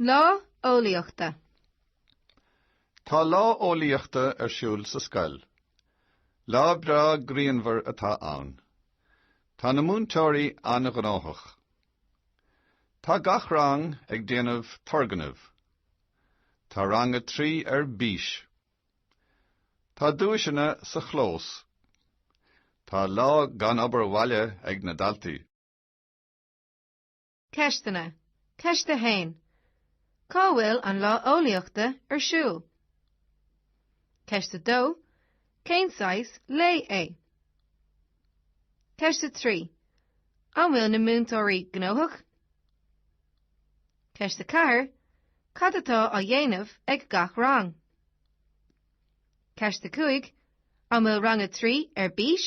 Lá Eolaíochta. Tá Lá Eolaíochta ar siúl sa scoil. Lá breá grianmhar atá ann. Tá na múinteoirí an-ghnóthach. Tá gach rang ag déanamh turgnaimh. Tá rang a trí ar bís. Tá duaiseanna sa chlós. Tá lá gan obair bhaile ag na daltaí. Ceisteanna, Ceist 1. Cá bhfuil an Lá Eolaíochta ar siúl? Ceist 2. Cén saghas lae é? Ceist 3. An bhfuil na múinteoirí gnóthach? Ceist 4. Cad atá á dhéanamh ag gach rang? Ceist 5. An bhfuil rang 3 ar bís?